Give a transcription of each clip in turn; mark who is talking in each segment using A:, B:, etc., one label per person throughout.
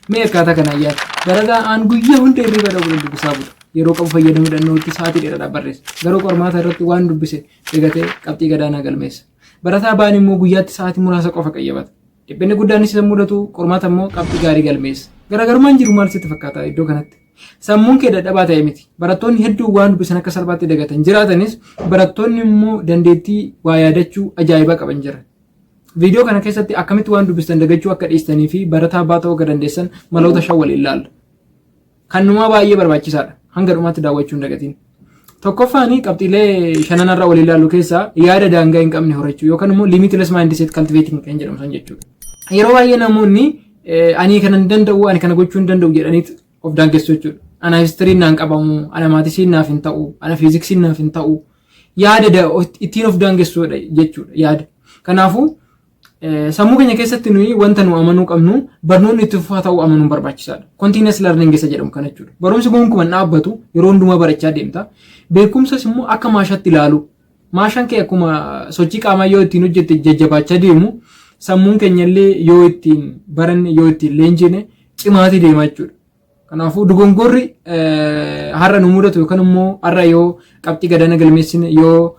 A: Mee akkaataa kanaan yaada. Barataa aan guyyaa hunda hirriba irraa bulan dubbisaa bula. Yeroo qabu fayyadamuudhaan nootti sa'aatii dheeraadhaaf barreessa. Garuu qormaata irratti waan dubbise eegatee qabxii gadaanaa galmeessa. Barataa ba'an immoo guyyaatti sa'aatii muraasa qofa qayyabata. Dhiphinni guddaan isa mudatu qormaata immoo qabxii gaarii galmeessa. Garaagarummaan jiru maal sitti fakkaata iddoo kanatti? Sammuun kee dadhabaa ta'e miti. Barattoonni hedduun waan dubbisan akka salphaatti dagatan jiraatanis barattoonni immoo dandeettii waa yaadachuu ajaa'ibaa qaban jira. Viidiyoo kana keessatti akkamitti waan dubbistan dagachuu akka dhiistanii fi barataa abbaa ta'uu akka dandeessan maloota shan waliin ilaalla. Kan numaa baay'ee barbaachisaadha. Hanga dhumaatti daawwachuu hin dagatiin. Tokkoffaan qabxiilee shanan irra waliin ilaallu keessaa yaada daangaa hin qabne horachuu yookaan immoo limitless mindset cultivating kan jedhamu san jechuudha. Yeroo baay'ee namoonni ani kana hin danda'u ani kana gochuu hin danda'u jedhaniit of daangessu jechuudha. Ana histiriin naan qabamu, ana maatisiin naaf hin ta'u, ana fiiziksiin naaf hin ta'u, yaada da- of- ittiin of daangessudha jechuudha yaada. Kanaafuu eh, sammuu keenya keessatti nuyi wanta nu amanuu qabnu barnoonni itti fufaa ta'uu amanuun barbaachisaadha. Continuous learning isa jedhamu kana jechuudha. Barumsi gonkuman dhaabbatu yeroo hundumaa barachaa deemta. Beekumsas immoo akka maashaatti ilaalu. Maashaan kee akkuma sochii qaamaa yoo ittiin hojjette jajjabaachaa deemu sammuun keenya illee yoo ittiin baranne yoo ittiin leenjine cimaatii deema jechuudha. Kanaafuu dogongorri har'a nu mudatu yookaan immoo har'a yoo qabxii gadaana galmeessine yoo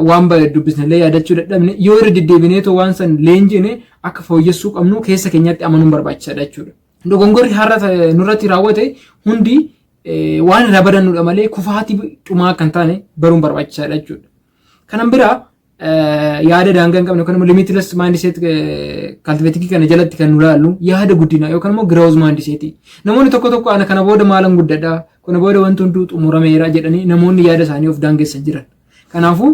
A: waan baay'ee dubbisnellee yaadachuu dadhabne yoo irra deddeebinee too waan san leenjine akka fooyyessuu qabnu keessa keenyatti amanuun barbaachisaadha jechuudha. Dogongorri har'a nurratti raawwate hundi waan irraa badannudha malee kufaatii dhumaa akka hin taane baruun barbaachisaadha jechuudha. Kanan biraa yaada daangaa hin qabne yookaan immoo limitless mindset kaltiveetikii kana jalatti kan nu laallu yaada guddinaa yookaan immoo growth mindset. Namoonni tokko tokko ana kana booda maalan guddadha kana booda wanti hunduu xumurameera jedhanii namoonni yaada isaanii of daangessan jiran. Kanaafuu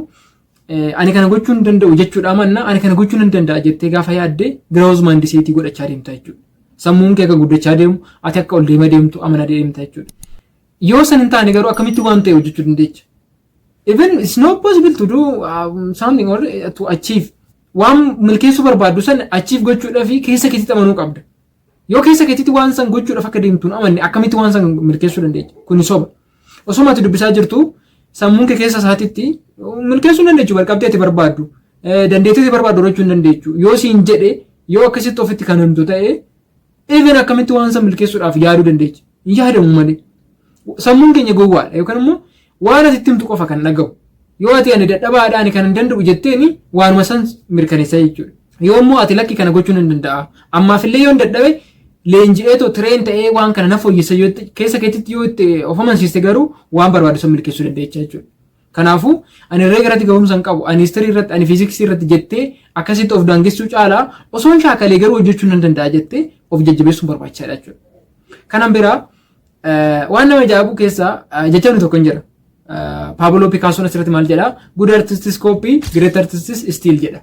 A: ani kana gochuu hin danda'u jechuudha manna ani kana gochuu hin danda'a jettee gaafa yaadde growth mindset godhachaa deemta jechuudha. Sammuun kee akka guddachaa deemu ati akka ol deema deemtu amana deemta jechuudha. Yoo san hin taane garuu akkamitti waan ta'e hojjechuu dandeecha? Even it's not possible to do um, something or uh, to achieve. Waan milkeessuu barbaaddu san achieve gochuudhaaf keessa keetitti amanuu qabda. Yoo keessa keetitti waan san gochuudhaaf akka deemtuun amanne akkamitti waan san milkeessuu dandeenya? Kuni soba. Osuma ati dubbisaa jirtu sammuun kee keessa isaatitti milkeessuu hin dandeechu barqabdee ati barbaaddu. Eh, Dandeettii ati barbaaddu horachuu hin dandeechu. Yoo siin jedhe yoo akkasitti ofitti kan himtu ta'e Even akkamitti waan san milkeessuudhaaf yaaduu dandeecha. Hin yaadamu malee. Sammuun keenya gowwaadha yookaan immoo waan ati itti himtu qofa kan dhagahu. Yoo ati ani dadhabaadha ani kan hin danda'u jetteeni waanuma san mirkaneessa jechuudha. Yoo immoo ati lakki kana gochuun hin danda'a. Ammaafillee yoo hin dadhabe leenji'ee too tireen ta'ee waan kana na fooyyessa yoo itti- keessa keetitti yoo itti of amansiiste garuu waan barbaadu san milkeessuu dandeecha jechuudha. Kanaafuu ani herreega irratti gahumsa hin qabu, ani history irratti, ani fiiziksii irratti jettee akkasitti of daangessuu caalaa osoon shaakalee garuu hojjechuu nan danda'a jettee of jajjabeessuun barbaachisaadha jechuudha. Kanan biraa waan nama ajaa'ibu keessaa jechamni tokko hin jira. Paaboloo Pikaasoon asirratti maal jedha? Good artists copy, great artists steal jedha.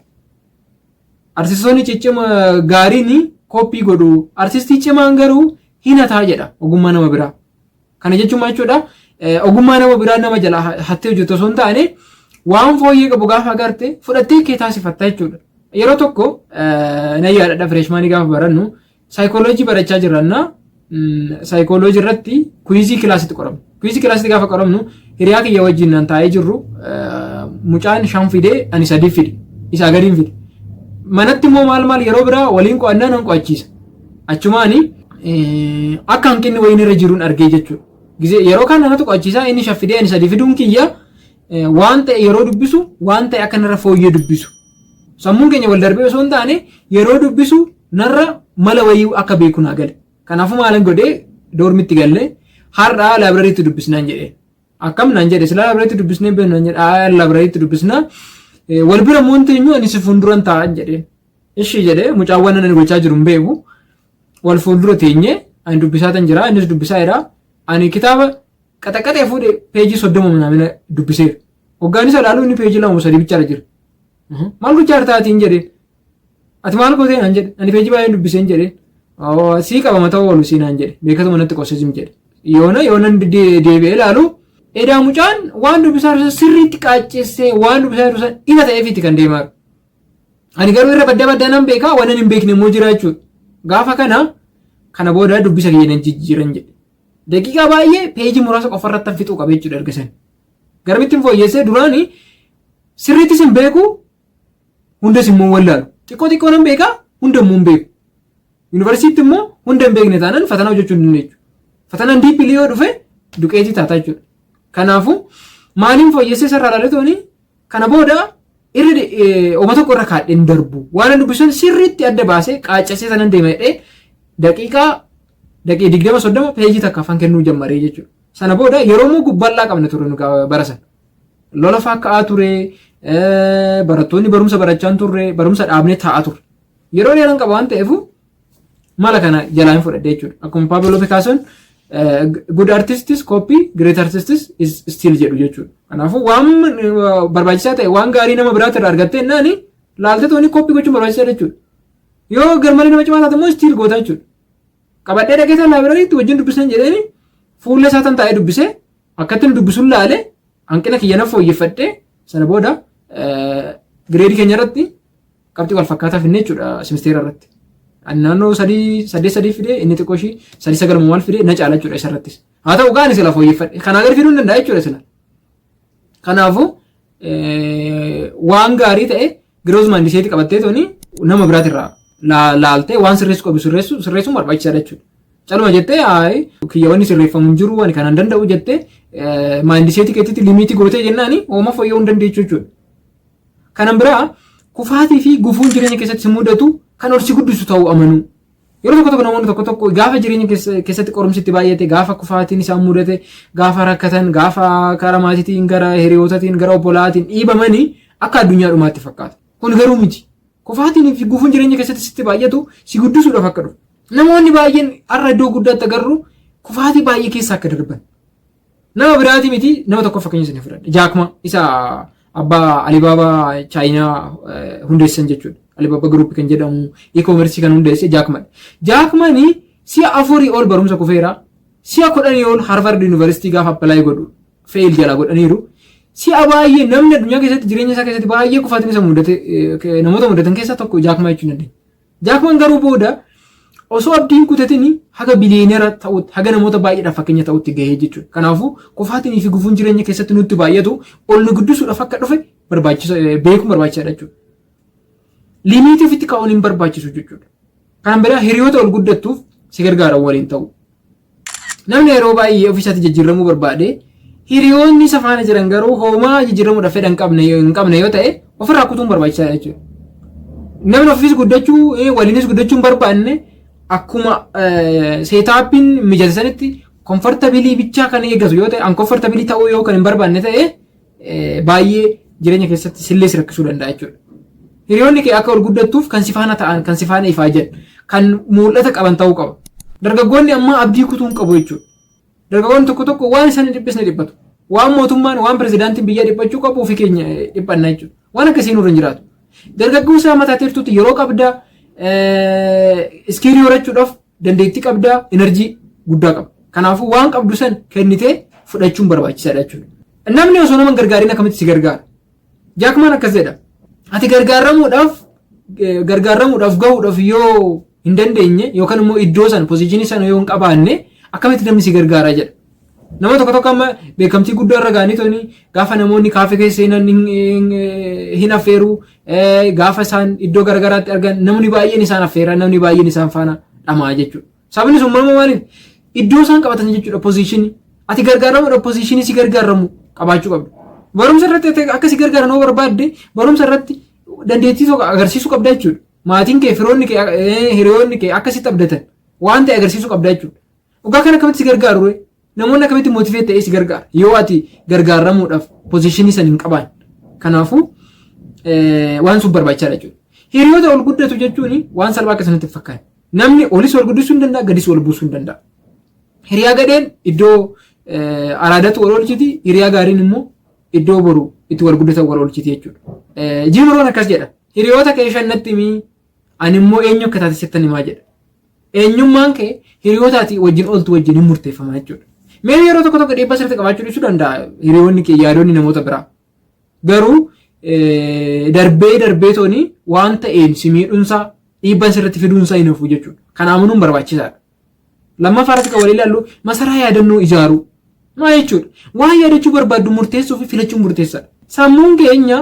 A: Artistoonni ciccima gaariin koppii godhu, artistii cimaan garuu hinataa jedha ogummaa nama biraa. Kana jechuun maal jechuudha? Ogummaa nama biraa nama jalaa hattee hojjettu osoo hin taane waan fooyyee qabu gaafa agarte fudhattee kee taasifatta jechuudha. Yeroo tokko na yaadadha fireeshmaanii gaafa barannu saayikooloojii barachaa jirranna saayikooloojii irratti kuizii kilaasitti qoramu. Kuizii kilaasitti gaafa qoramnu hiriyaa kiyya wajjin nan taa'ee jirru mucaan shan fidee ani sadii fide isaa gadiin fide. Manatti immoo maal maal yeroo biraa waliin qo'annaa nan qo'achiisa. Achumaan akka hanqinni wayiin irra jiruun argee jechuudha. Gisee yeroo kaan namatti qo'achiisaa inni shan fidee ani sadii fiduun kiyya eh, waan ta'e yeroo dubbisu waan ta'e akka narra fooyyee dubbisu. Sammuun keenya wal darbee osoo hin taane yeroo dubbisu narra mala wayii akka beeku naa gale. Kanaafuu maalan godhee doormitti gallee har'aa laabrariitti dubbisnaan jedhee. Akkam naan jedhe silaa labrareetti dubbisnee beeknu naan jedhe aa labrareetti dubbisna wal bira immoo hin teenyu ani si fuulduran taa'an jedheen. Ishii jedhee mucaan waan ani gochaa jiru hin beeku wal fuuldura teenye ani dubbisaa tan jira innis dubbisaa jira ani kitaaba qaxaqaxee fuudhe peejii soddoma naamina dubbiseera. Hoggaan isa ilaalu inni peejii lama sadii bichaadha jira. Maal gochaa jirtaatiin jedheen. Ati maal gootee naan jedhe. Ani peejii baay'een dubbiseen jedheen. Awwa, Sii qabama ta'uu oolu sii naan jedhe. Beekatuma natti qosse zim jedhe. Yoona yoonan de- deebi'ee ilaalu edaa mucaan waan dubbisaa jiru san sirriitti qaaccessee waan dubbisaa jiru san ifa ta'eefiiti kan deemaa jiru. Ani garuu irra badda baddaa nan beekaa waan ani hin beekne immoo jira jechuudha. Gaafa kana kana booda dubbisa kiyya nan jijjiiran jedhe. Daqiiqaa baay'ee peejii muraasa qofa irratti fixuu qaba jechuudha erga sana. Garamittiin fooyyessee duraanii sirriittis hin beeku Hundas immoo wallaalu. Xiqqoo xiqqoo nan beekaa hunda immoo hin beeku. Yuunivarsiitti immoo hunda hin beekne taanaan fatanaa hojjechuu hin dandeechu. Fatanaan diippilii yoo dhufe duqeetii taataa jechuudha. Kanaafuu maaliin fooyyessee sarara latooni kana booda irra de- eh, homa tokko irra kaadhee hin darbu. Waan ani dubbisan sirriitti adda baasee qaaccessee sanan deema jedhee daqiiqaa daqiiqaa digdama soddoma peejii takka afaan kennuu jammaree jechuudha. Sana booda yeroo immoo gubbal'aa qabna ture nu gaa- bara sana. Lola faa ka'aa ture, barattoonni barumsa barachaa hin turre, barumsa dhaabnee taa'aa turre. Yeroo dheeraan qaba waan ta'eef mala kana jalaa hin fudhadhe jechuudha. Akkuma Paaveloo Pikaassoon good artists copy great artists is still jedhu jechuudha. Kanaafuu waan barbaachisaa ta'e waan gaarii nama biraatti irraa argattee naani laaltee tooni copy gochuun barbaachisaa jechuudha. Yoo garmalee nama cimaa taate immoo still goota jechuudha. Qabadhee dhaqee sana laabiraariitti wajjin dubbisan jedheeni fuula isaa tan taa'ee dubbisee Akkattin dubbisun laale hanqina kiyya nan fooyyeffadhe sana booda gireedii keenya irratti qabxii wal fakkaataa finne jechuudha simisteera irratti. Ani naannoo sadii saddeet sadii fide inni xiqqoo ishii sadii sagal maal fide na caala jechuudha isa irrattis. Haa ta'u gaani sila fooyyeffadhe kanaa gadi fiduu hin danda'a jechuudha sila. Kanaafuu waan gaarii ta'e girooz maandiseetii qabattee tooni nama biraatirraa laaltee waan sirreessu qabu sirreessu sirreessuun barbaachisaadha jechuudha. Caluma jettee haayi kiyyaawwanni sirreeffamu hin jiru ani kanan danda'u jettee maandiseetii keetitti limiitii gootee jennaani hooma fooyya'uu hin dandeechu jechuudha. Kanan biraa kufaatii fi gufuun jireenya keessatti si mudatu kan ol si guddisu ta'uu amanuu. Yeroo tokko tokko namoonni tokko tokko gaafa jireenya keessatti qorumsi itti baay'ate, gaafa kufaatiin isaan mudate, gaafa rakkatan, gaafa karaa maatiitiin, gara hiriyootatiin, gara obbolaatiin dhiibamanii akka addunyaa dhumaatti fakkaata. Kun garuu miti. Kufaatiin fi gufuun jireenya keessatti sitti baay'atu si guddisuudhaaf akka dhufu. Namoonni baay'een har'a iddoo guddaatti agarru kufaatii baay'ee keessa akka darban. Nama biraati miti nama tokko fakkeenya isin fudhadhe. Jaakmaa isa abbaa Alibaabaa Chaayinaa hundeessan jechuudha. Alibaabaa Group kan jedhamu e-commerce kan hundeesse Jaakmadha. Jaakmani si'a afurii ol barumsa kufeera. Si'a kudhanii ol Harvard University gaafa apply godhu fail jala godhaniiru. Si'a baay'ee namni addunyaa keessatti jireenya isaa keessatti baay'ee kufaatni isa mudate namoota mudatan keessaa tokko Jaakmaa jechuun dandeenya. Jaakman garuu booda osoo abdii hin kutatini haga biliyeenera ta'utti, haga namoota baay'eedhaaf fakkeenya ta'utti gahee jechuudha. Kanaafuu kufaatiin fi gufuun jireenya keessatti nutti baay'atu ol nu guddisuudhaaf akka dhufe barbaachisa beekuun barbaachisaadha jechuudha. Limiitii ofitti kaa'uun hin barbaachisu jechuudha. Kanaan biraa hiriyoota ol guddattuuf si gargaaran waliin ta'u. Namni yeroo baay'ee ofii isaatii jijjiirramuu barbaade, hiriyoonni isa faana jiran garuu hoomaa jijjiirramuudhaaf fedha hin qabne yoo- hin qabne yoo ta'e ofirraa kutuun barbaachisaadha jechuudha. Namni ofiis guddachuu, eh, waliinis guddachuu hin barbaanne akkuma seetaappiin mijate sanitti komfortabilii bichaa kan eeggatu yoo ta'e, unkomfortabilii ta'uu yoo kan hin barbaanne ta'e baay'ee jireenya keessatti sillee si rakkisuu danda'a jechuudha. Hiriyoonni kee akka ol guddattuuf kan si faana ta'an, kan si faana ifaajan, kan mul'ata qaban ta'uu qaba. Dargaggoonni ammaa abdii kutuu hin qabu jechuudha. Dargaggoonni tokko tokko waan isaan hin dhiphisne dhiphatu. Waan mootummaan, waan pirezidaantiin biyyaa dhiphachuu qabu ofii keenya dhiphanna jechuudha. Waan akkasii nurra hin jiraatu. Dargaggoo isaa mataa teertuutti yeroo qabdaa iskiilii horachuudhaaf dandeettii qabdaa enerjii guddaa qaba. Kanaafuu waan qabdu san kennitee fudhachuun barbaachisaadha jechuudha. Namni osoo nama hin gargaarin akkamitti si gargaara? Jaakmaan akkas jedha. Ati gargaaramuudhaaf eh, gargaaramuudhaaf gahuudhaaf yoo hin dandeenye yookaan immoo iddoo sana pozishinii sana yoo hin qabaanne akkamitti namni si gargaara jedha. Nama tokko tokko amma beekamtii guddaa irra ga'anii tuni gaafa namoonni kaafee keessa seenan hin- hin- hin affeeru eh, gaafa isaan iddoo garagaraatti argan namni baay'een isaan affeera namni baay'een isaan faana dhama'a jechuudha. Sababni sun maama maaliif iddoo isaan qabatan jechuudha pozishinii ati gargaaramuudha pozishinii si gargaaramu qabaachuu qabda. Barumsa irratti ati akka si gargaaran yoo barbaadde barumsa irratti dandeettii tokko agarsiisuu qabda jechuudha. Maatiin kee firoonni kee eh, hiriyoonni kee akka sitti abdatan waan ta'e agarsiisuu qabda jechuudha. Dhugaa kana akkamitti si gargaaru ree? Namoonni akkamitti motivate ta'ee si gargaara? Yoo ati gargaaramuudhaaf pozishinii san hin qabaan. Kanaafuu waan sun barbaachisaadha jechuudha. Hiriyoota ol guddatu jechuun waan salphaa akka sanatti fakkaata. Namni olis ol guddisuu hin danda'a, gadis ol buusuu hin danda'a. Hiriyaa gadheen iddoo araadatu wal oolchiti, hiriyaa gaariin immoo iddoo boru itti wal guddatan wal oolchiti jechuudha. Jiimiroon akkas jedha. Hiriyoota kee shannatti himi, ani immoo eenyu akka taate sittan himaa jedha. Eenyummaan kee hiriyoota ati wajjin ooltu wajjin hin murteeffama jechuudha. Mee yeroo tokko tokko dhiibbaa sirriitti qabaachuu dhiisuu danda'a hiriyoonni kee yaadonni namoota biraa. Garuu darbee darbee tooni waan ta'een si miidhunsaa dhiibbaa sirriitti fiduunsaa hin hafu jechuudha. Kana amanuun barbaachisaadha. Lammaffaa irratti kan walii ilaallu masaraa yaadannoo ijaaruu. Maal jechuudha? Waan yaadachuu barbaaddu murteessuu fi filachuun murteessaadha. Sammuun keenya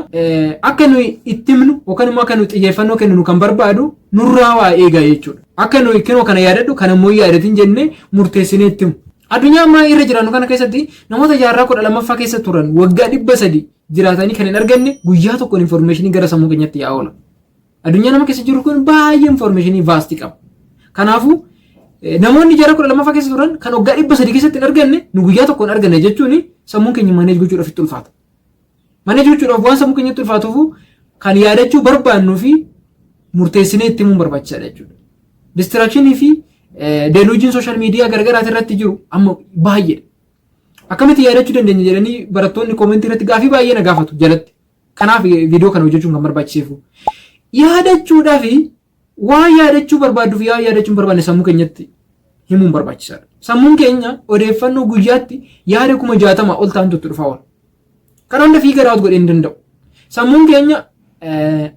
A: akka nuyi itti himnu yookaan immoo akka nuyi xiyyeeffannoo kenninu kan barbaadu nurraa waa eegaa jechuudha. Akka nuyi kinoo kana yaadadhu kana immoo yaadatin jennee murteessinee itti himu. Addunyaa ammaa irra jiraannu kana keessatti namoota jaarraa kudha lammaffaa keessa turan waggaa dhibba sadii jiraatanii kan hin arganne guyyaa tokkoon informeeshinii gara sammuu keenyatti yaa oola. Addunyaa nama keessa jiru kun baay'ee information vaastii qaba. Kanaafuu namoonni jara kudha lammaffaa keessa turan kan waggaa dhibba sadii keessatti hin arganne nu guyyaa tokkoon arganne jechuun sammuun keenya maneej gochuudhaaf itti ulfaata. Maneej gochuudhaaf waan sammuu keenyatti ulfaatuuf kan yaadachuu barbaannuu fi murteessinee itti himuun barbaachisaadha jechuudha. Distiraakshini fi deluujiin sooshaal miidiyaa garagaraati irratti jiru amma baay'eedha. Akkamitti yaadachuu dandeenya jedhanii barattoonni koomentii irratti gaafii baay'ee na gaafatu jalatti. Kanaaf viidiyoo kana hojjechuun kan barbaachiseefu yaadachuudhaa fi waan yaadachuu barbaaddu fi waan yaadachuu hin barbaanne sammuu keenyatti himuun barbaachisaadha. Sammuun keenya odeeffannoo guyyaatti yaada kuma jaatama ol ta'antu itti dhufaa oola. Kana hunda fiiga raawwatu godhee hin danda'u. Sammuun keenya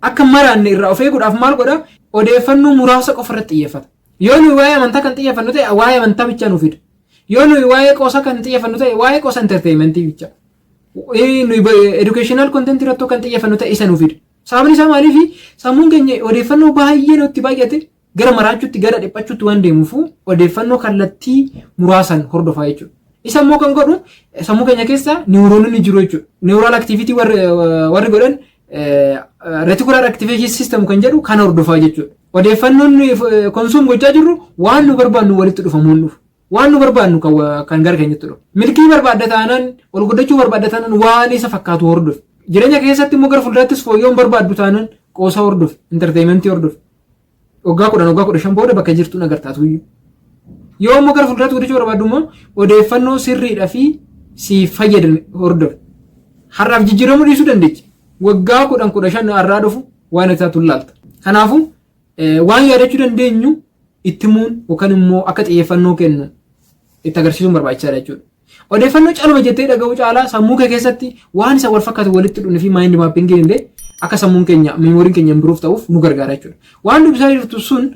A: akka maraanne irraa of eeguudhaaf maal godha? Odeeffannoo muraasa qofa irratti xiyyeeffata. Yoo nuyi waa'ee amantaa kan xiyyeeffannu ta'e waa'ee amantaa bichaa nuuf fida. Yoo nuyi waa'ee qoosaa kan xiyyeeffannu ta'e waa'ee qoosa enterteeyimentii bichaa. Ee, nuyi ba- educational content irratti kan xiyyeeffannu ta'e isa nuuf fida. Sababni isaa maaliifi sammuun keenya odeeffannoo baay'ee nutti baay'ate gara maraachuutti gara dhiphachuutti waan deemuuf odeeffannoo kallattii muraasaan hordofaa jechuudha. Isa immoo kan godhu eh, sammuu keenya keessa niwuroononni jiru jechuudha. Niwuraal aktiviitii warri eh, warri godhan retikulaar aktiveeshin siistem kan jedhu kan hordofaa jechuudha. Odeeffannoon konsuum gochaa jirru waan nu barbaannu walitti dhufamuun dhufu. Waan nu barbaadnu kan wa- kan gara keenyatti dhufu. Milkii barbaadda taanaan, ol guddachuu barbaadda taanaan waan isa fakkaatu hordofi. Jireenya keessatti immoo gara fuulduraattis fooyya'uun barbaaddu taanaan qoosaa hordofi, intarteeyimentii hordofi. Waggaa kudhan, waggaa kudha shan booda bakka jirtuun agartaatu iyyuu. Yoo immoo gara fuulduraatti guddachuu barbaaddu immoo odeeffannoo sirriidhaa fi siif fayyadan hordofi. Har'aaf jijjiiramuu dhiisuu dandeechi. Waggaa kudhan kudha shan har'aa dhufu waan isaatu laalta. Kanaafuu Waan yaadachuu dandeenyu itti himuun yookaan immoo akka xiyyeeffannoo kennu itti agarsiisuun barbaachisaadha jechuudha. Odeeffannoo caluma jettee dhaga'uu caalaa sammuu kee keessatti waan isa wal fakkaatu walitti dhunni fi maayindi maappingiin illee akka sammuun keenya miimooriin keenya impiruuf ta'uuf nu gargaara jechuudha. Waan dubbisaa jirtu sun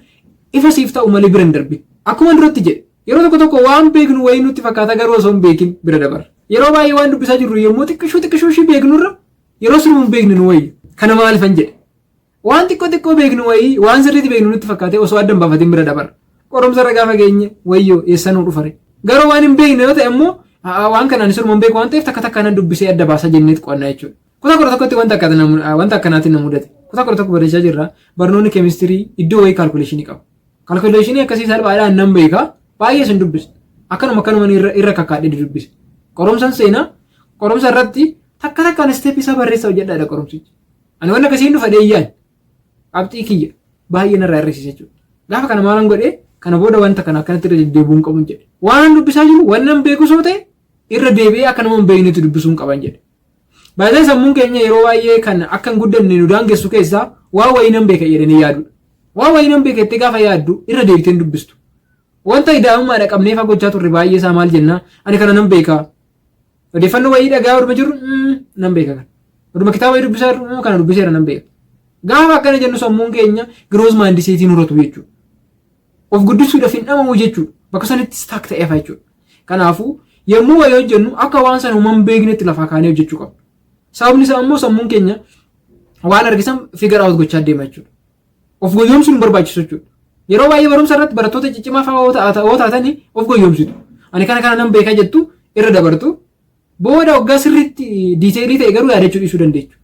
A: ifa siif ta'u malee bira hin darbin. Akkuma duratti jedhe yeroo tokko tokko waan beeknu wayii nutti fakkaata garuu osoo hin beekin bira dabarra. Yeroo baay'ee waan dubbisaa jirru yommuu xiqqishuu xiqqishuu ishii beeknurra yeroo siruma hin beekne nu wayyu. Kana maalifan jedhe? Waan xiqqoo xiqqoo beeknu wayii waan sirriitti beeknu nutti fakkaatee osoo adda hin baafatiin bira dabarra. Qorumsa irra gaafa geenye wayyoo eessa nuu dhufare. Garuu waan hin beekne yoo ta'e immoo a'aa waan kana ani siruma hin beeku waan ta'eef takka takka nan dubbisee adda baasa jenneet qo'annaa jechuudha. Kutaa kudha tokkotti wanta akka na mu- wanta akkanaatiin na mudate. Kutaa kudha tokko barachaa jirra. Barnoonni keemistirii iddoo wayii kaalkuleeshinii qaba. Kaalkuleeshinii akkasii salphaadhaan nan beeka. Baay'ee sin dubbisa. Akkanuma akkanuma irra irra kakkaadhee dubbisa. Qorumsan seenaa qorumsa irratti takka takkaan isteep isaa barreessaa hojjedhaadha qorumsichi. Ani wanna akkasiin dhufa deeyyaan qabxii kiyya baay'ee narraa hir'isiisa jechuudha. Gaafa kana maalan godhee kana booda wanta kana akkanatti irra deddeebi'uun qabuun jedhe. Waan dubbisaa jiru wannan beeku soo ta'e irra deebi'ee akka nama hin beeknetti dubbisuun qaban jedhe. Baay'ee sammuun keenya yeroo baay'ee kan akka hin guddanne nu daangessu keessaa waa wayii nan beeka jedhanii yaadudha. Waa wayii nan beeka jettee gaafa yaaddu irra deebitee hin dubbistu. Wanta idaa'ummaadha qabnee fagochaa turre baay'ee isaa maal jennaa ani kana nan beekaa Odeeffannoo wayii dhagahaa oduma jirru nan beeka kana. Oduma kitaaba wayii dubbisaa jirru kana dubbiseera nan beeka. Gaafa akkana jennu sammuun keenya giroos maandiseetiin horatu jechuudha. Of guddisuudhaaf hin dhamamu jechuudha. Bakka sanitti staak ta'eef jechuudha. Kanaafuu yommuu wayii hojjennu akka waan sana uuman beeknetti lafaa kaanee hojjechuu qabna. Sababni isaa immoo sammuun keenya waan argisan figure out gochaa deema jechuudha. Of goyyoomsuun hin barbaachisu jechuudha. Yeroo baay'ee barumsa irratti barattoota ciccimaa fa'aa yoo ta'a- yoo taatanii of goyyoomsitu. Ani kana kana nan beekaa jettu irra dabartu. Booda waggaa sirriitti diiteelii ta'e garuu yaadachuu dhiisuu dandeechu.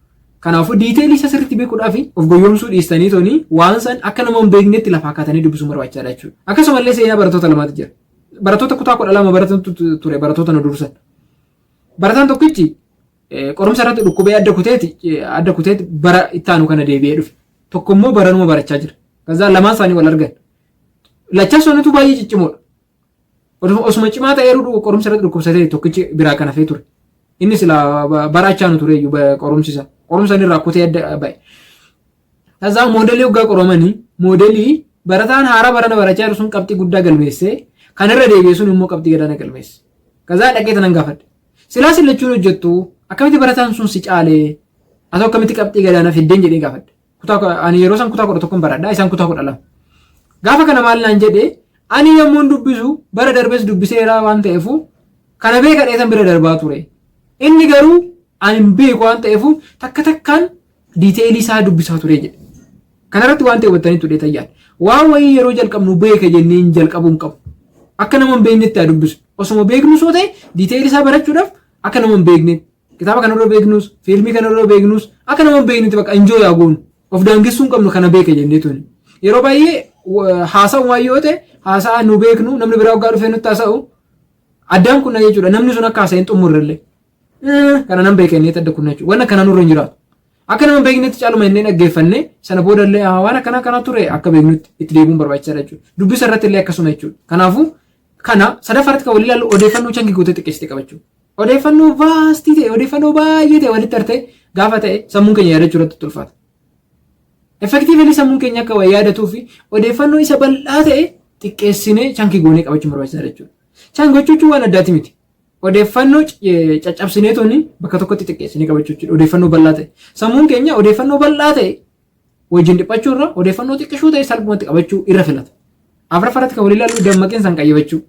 A: Kanaafuu diiteelii isa sirriitti beekuudhaaf of goyyoomsuu dhiistanii toonii waan san akka nama hin beeknetti lafaa kaatanii dubbisuun barbaachisaadha jechuudha. Akkasumallee seenaa barattoota lamaatu jira. Barattoota kutaa kudha lama baratantu tu- ture barattoota nu dursan. Barataan tokkichi qorumsa irratti dhukkubee adda kuteeti adda kuteeti bara itti aanu kana deebi'ee dhufe. Tokko immoo baranuma barachaa jira. Kazaa lamaan isaanii wal argan. Lachaa isaaniitu baay'ee ciccimoodha. Osuma cimaa ta'eeru qorumsa irratti dhukkubsatee tokkichi biraa kan hafee ture. Inni sila bara achaanu ture iyyuu qorumsi isaa. Qorumsa inni irraa kutee adda ba'e. Tasaa moodelii hoggaa qoramani moodelii barataan haaraa barana barachaa jiru sun qabxii guddaa galmeessee kan irra deebi'e sun immoo qabxii gadaana galmeesse. Kazaa dhaqee tanan gaafadhe. Silaa sin lachuun hojjettu akkamitti barataan sun si caalee asoo akkamitti qabxii gadaana fiddeen jedhee gaafadhe. Kutaa ani yeroo san kutaa kudha tokkon baradha isaan kutaa kudha lama. Gaafa kana maal naan jedhee ani yommuun dubbisu bara darbes dubbiseera waan ta'eefu kana beeka dheetan bira darbaa ture. Inni garuu ani hin beeku waan ta'eefu takka takkaan Detail isaa dubbisaa ture jedhe. Kanarratti waan ta'e hubattaniittu dheetan yaada. Waan wayii yeroo jalqabnu beeka jennee hin jalqabuu hin qabu. Akka nama hin beeknetti haa dubbisu. Osuma beeknu soo ta'e detail isaa barachuudhaaf akka nama hin beekne kitaaba kana irra beeknus fiilmii kana irra beeknus akka nama hin beeknetti bakka enjoy haa goonu. Of daangessuu hin qabnu kana beeka jennee tuni. Yeroo baay'ee haasa'u waan yoo ta'e haasa'a nu beeknu namni biraa waggaa dhufee nutti haasa'u addaan kunna jechuudha. Namni sun akka haasa'e hin xumurrellee. kana nan beeka inni adda kunna jechuudha. Waan akkanaa nurra hin jiraatu. Akka nama beeknetti caaluma inni dhaggeeffanne sana booda illee waan akkanaa kanaa ture akka beeknutti itti deebiin barbaachisaadha jechuudha. Dubbisa irratti illee akkasuma jechuudha. Kanaafuu kana sadaffaarratti kan walii ilaallu odeeffannoo changi gootee xiqqeessite qabachuu. Odeeffannoo vaastii ta'e odeeffannoo baay'ee ta'e walitti artee gaafa ta'e sammuun keenya yaadachuu irratti tulfaata. Effektiivilii sammuun keenya akka waa yaadatuu fi odeeffannoo isa bal'aa ta'e xiqqeessinee changi goonee qabachuun barbaachisaadha jechuudha. Changi gochuun waan addaati miti. Odeeffannoo caccabsinee tuni bakka tokkotti xiqqeessinee qabachuu jechuudha. Odeeffannoo bal'aa ta'e. Sammuun keenya odeeffannoo bal'aa ta'e wajjin dhiphachuu irra odeeffannoo xiqqishuu ta'e salphumatti qabachuu irra filata. Afraffaa irratti kan walii ilaallu dammaqinsa hin qayyabachuu.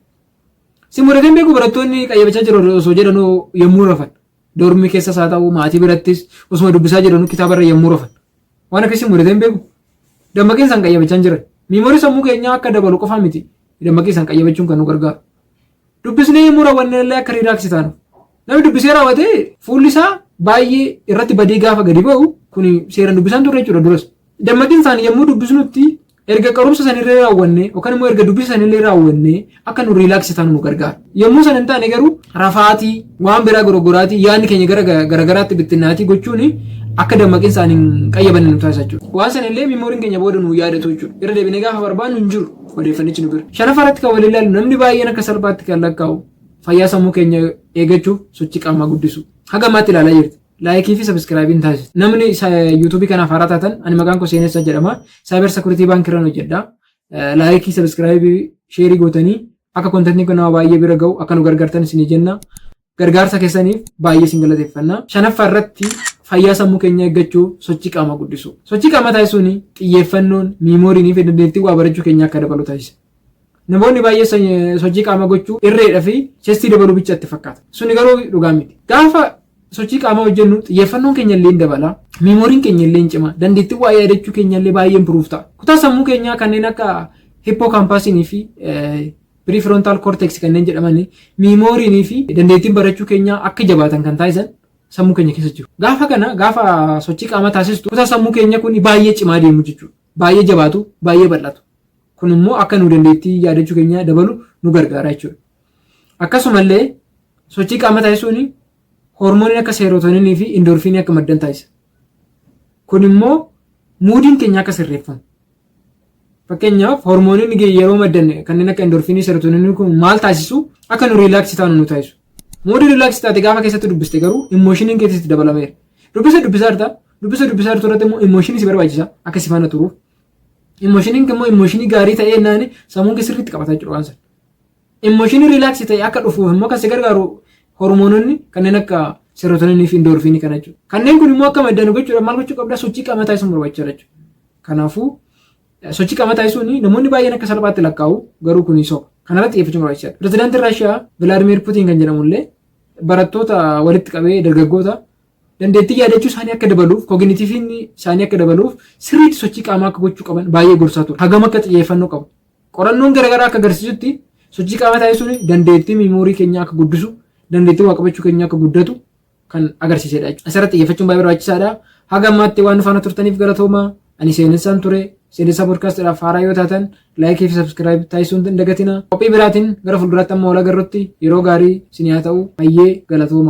A: Si mudatee hin beeku barattoonni qayyabachaa jiru osoo jedhanuu yommuu rafan. Doormii keessas haa ta'u maatii birattis osuma dubbisaa jedhanuu kitaaba irra yommuu rafan. Waan akkasii mudatee hin beeku. Dammaqinsa hin qayyabachaa hin jiran. Miimoorii sammuu keenyaa akka dabalu qofaa miti. Dammaqinsa hin qayyabachuun kan nu gargaaru. Dubbisnee immoo raawwannee illee akka riilaaksii taanuuf. Namni dubbisee raawwate fuulli isaa baay'ee irratti badee gaafa gadi ba'u kun seeraan dubbisaan turre jechuudha duras. Dammaqin isaanii yommuu dubbisnutti erga qarumsa sanillee raawwannee yookaan immoo erga dubbisa sanillee raawwannee akka nu riilaaksii taanu nu gargaara. Yommuu sana hin taane garuu rafaatii waan biraa gorogoraatii yaadni keenya gara garagaraatti bittinnaatii gochuun akka dammaqin isaanii hin qayyabanne nu taasisa jechuudha. Waan sanillee miimooriin keenya booda nu yaadatu jechuudha. Irra deebinee gaafa barbaannu hin jiru. odeeffannichi nu bira. Shanaffaa irratti kan waliin ilaallu namni baay'een akka salphaatti kan lakkaa'u fayyaa sammuu keenya eegachuuf sochii qaamaa guddisuu. Haga ammaatti ilaalaa jirtu. Laayikii fi sabiskiraayibiin taasisa. Namni yuutuubii kanaaf haaraa taatan ani maqaan koo seenessa jedhama. Saayibar sekuritii baankii irraan hojjedha. Laayikii sabiskiraayibii sheerii gootanii akka kontentiin kun nama baay'ee bira ga'u akka nu gargaartan isinii jenna. Gargaarsa keessaniif baay'ee isin galateeffanna. Shanaffaa irratti fayyaa sammuu keenya eeggachuuf sochii qaamaa guddisuu. Sochii qaamaa taasisuun xiyyeeffannoon, miimooriin fi dandeettii waa barachuu keenya akka dabalu taasisa. Namoonni baay'ee sochii qaamaa gochuu irreedha fi chestii dabaluu bicha itti fakkaata. Suni garuu dhugaa miti. Gaafa sochii qaamaa hojjennu xiyyeeffannoon keenya illee hin dabala. Miimooriin keenya illee hin cima. Dandeettii waa yaadachuu keenya illee baay'ee improve ta'a. Kutaa sammuu keenyaa kanneen akka hippoo kaampaasiinii fi Prefrontal cortex kanneen jedhaman miimooriinii fi dandeettiin barachuu keenyaa akka jabaatan kan taasisan sammuu keenya keessa jiru. Gaafa kana gaafa sochii qaamaa taasistu kutaa sammuu keenya kun baay'ee cimaa deemu jechuudha. Baay'ee jabaatu, baay'ee bal'atu. Kun immoo akka nu dandeettii yaadachuu keenyaa dabalu nu gargaara jechuudha. Akkasumallee sochii qaamaa taasisuun hormooniin akka seerootoninii fi indoorfiinii akka maddan taasisa. Kun immoo muudiin keenya akka sirreeffamu. Fakkeenyaaf hormoononni ge- yeroo maddan kanneen akka endorfiinii, serotoninii kun maal taasisu akka nu riilaaksi taanu nu taasisu. Muudii riilaaksi taate gaafa keessatti dubbiste garuu immooshiiniin keessa itti dabalameera. Dubbisa dubbisaa jirta. Dubbisa dubbisaa jirtu irratti immoo immooshiinii si barbaachisa akka si faana turuuf. Immooshiiniin immoo immooshiinii gaarii ta'ee naani sammuun kee sirriitti qabata jechuudha waan sana. Immooshinii riilaaksi ta'e akka dhufuuf immoo kan si gargaaru hormoononni kanneen akka serotoninii fi indoorfiinii kana jechuudha. Kanneen kun immoo akka maddan gochuudhaaf maal gochuu qabda sochii qaamaa taasisuun barbaachisaadha jechuudha. Kanaafuu sochii qaamaa taasisuun namoonni baay'een akka salphaatti lakkaa'u garuu kun soba. Kanarratti xiyyeeffachuun barbaachisaadha. Pirezidaantiin Raashiyaa Vilaadimiir Putiin kan jedhamu illee barattoota walitti qabee dargaggoota dandeettii yaadachuu isaanii akka dabaluuf koginitiiviin isaanii akka dabaluuf sirriitti sochii qaamaa akka gochuu qaban baay'ee gorsaa ture. Hagam akka xiyyeeffannoo qabu Qorannoon garagaraa akka agarsiisutti sochii qaamaa taasisuun dandeettii miimoorii keenyaa akka guddisu, dandeettii waa qabachuu keenyaa akka guddatu kan agarsiisedha jechuudha. Asirratti xiyyeeffachuun baay'ee barbaachisaadha. Haga ammaatti waan faana turtaniif galatoomaa. Ani seenessaan ture. Seenessaa podkaastiidhaaf haaraa yoo taatan laayikii fi sabskiraayib taasisuun hin dagatina. Qophii biraatiin gara fuulduraatti amma wal agarrutti yeroo gaarii isin haa ta'u. Hayyee galatoomaa.